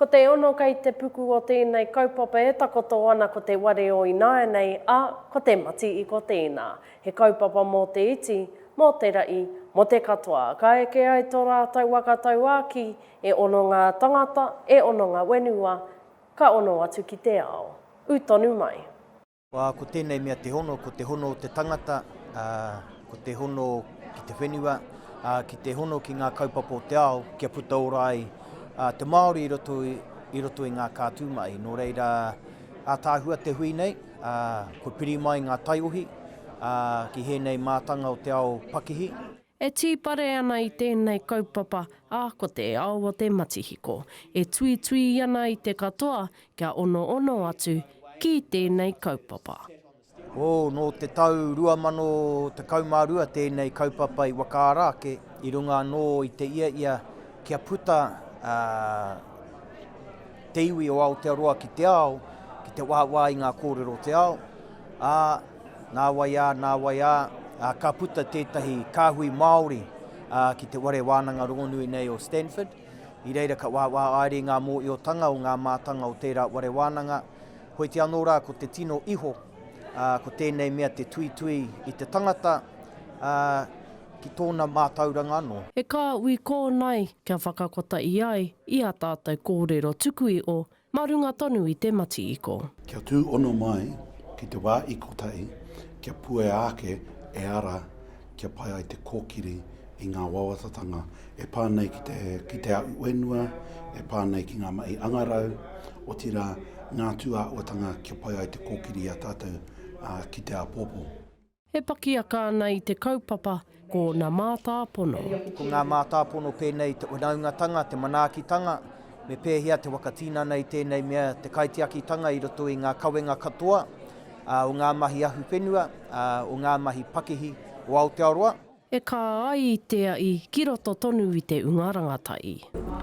Ko te ono kei te puku o tēnei kaupapa e takoto ana ko te ware o ināianei, ā, ko te mati i ko tēnā. He kaupapa mō te iti, mō te raʻi, mō te katoa. Ka eke ai tō rātou waka tauākī, e ono ngā tangata, e ono ngā whenua, ka ono atu ki te ao. Ū tonu mai. Ko tēnei mea te hono, ko te hono o te tangata, ko te hono ki te whenua, ki te hono ki ngā kaupapa o te ao kia puta ora ai te Māori i roto i ngā kātū mahi. Nō reira, ātaahua te hui nei, kua piri mai ngā taiohi ki hēnei mātanga o te ao pakihi. E tīpare ana i tēnei kaupapa, ā, ko te ao o te matihiko e tuitui ana i te katoa kia onoono atu ki tēnei kaupapa. Hou, nō te tau 2012 tēnei kaupapa i whakaara ake i runga anō i te ia ia kia puta te iwi o Aotearoa ki te ao, ki te wāwā i ngā kōrero o te ao, ā, Nāwai ā, nāwai ā, ka puta tētahi kāhui Māori ki te ware wānanga rongonui nei o Stanford. I reira ka wāwā aere i ngā mōiotanga o ngā mātanga o tērā ware wānanga. Hoiti anō rā ko te tino iho, ko tēnei mea te tuitui i te tangata ki tōna mātauranga anō. E kā ui kōnae kia whakakota i ai i ā tātou kōrero tuku iho Mā runga tonu i te matiiko. Kia tū ono mai ki te wā i kotahi, kia puea ake e ara kia pai ai te kōkiri i ngā wawatatanga e pā nei ki te ki te aʻu whenua, e pā nei ki ngā mahi angarau, otirā, ngā tūāhuatanga kia pai ai te kōkiri i a tātou ki te āpōpō. E pakiaka ana i te kaupapa ko na mātāpono. Ko ngā mātāpono pēnei i te whanaungatanga, te manaakitanga, me pēhea te whakatinana i tēnei mea, te kaitiakitanga i roto i ngā kawenga katoa o ngā mahi ahuwhenua, o ngā mahi pakihi o Aotearoa. E kā ai i te aʻi ki roto tonu i te unga rangataʻi.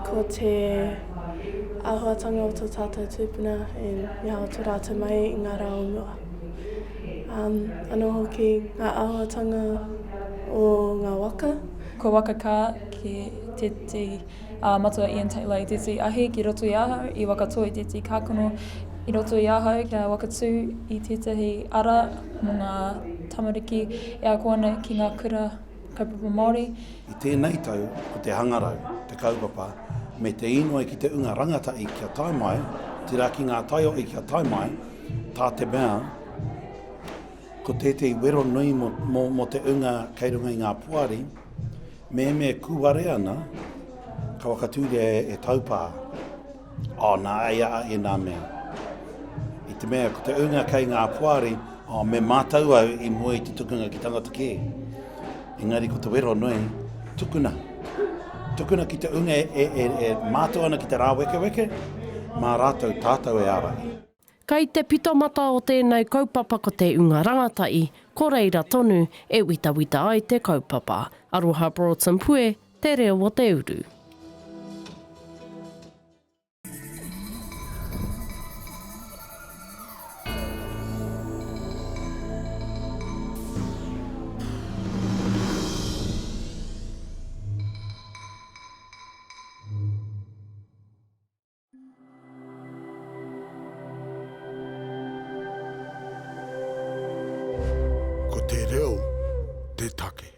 Ko te āhuatanga o tō tātou tūpuna e mea atu rātou mai i ngā rā o mua. Anō hoki ngā āhuatanga o ngā waka. Ko waka kā, ki tētehi. Ā, matua Ian Taylor i tētahi ahi ki roto i ahau i whakatō i tētahi kākano i roto i ahau kia whakatū i tētahi ara mō ngā tamariki e ako ana ki ngā kura kaupapa Māori. I tēnei tau ko te hangarau, te kaupapa, me te inoi ki te unga rangatahi kia tae mai, tērā ki ngā taiohi kia tae mai, tā te mea, ko tētahi wero nui mō, mō, mō te unga kei runga i ngā poari, me me kūare ana, ka wakatūria e, e taupā. O, oh, nā, ai a e nā mea. I te mea, ko te unga kei ngā poari, o, oh, me mātau au i mua i te tukunga ki tangata kē. Engari ko te wero nui, tukuna. Tukuna ki te unga e, e, e, e mātau ana ki te rāwekeweke, mā rātau tātau e ārahi. Kei te pitamata o tēnei kaupapa ko te ūnga rangatahi, ko reira tonu e witawita ai te kaupapa. Aroha Broughton Pue, Te Reo o te Uru. Ko te reo te take.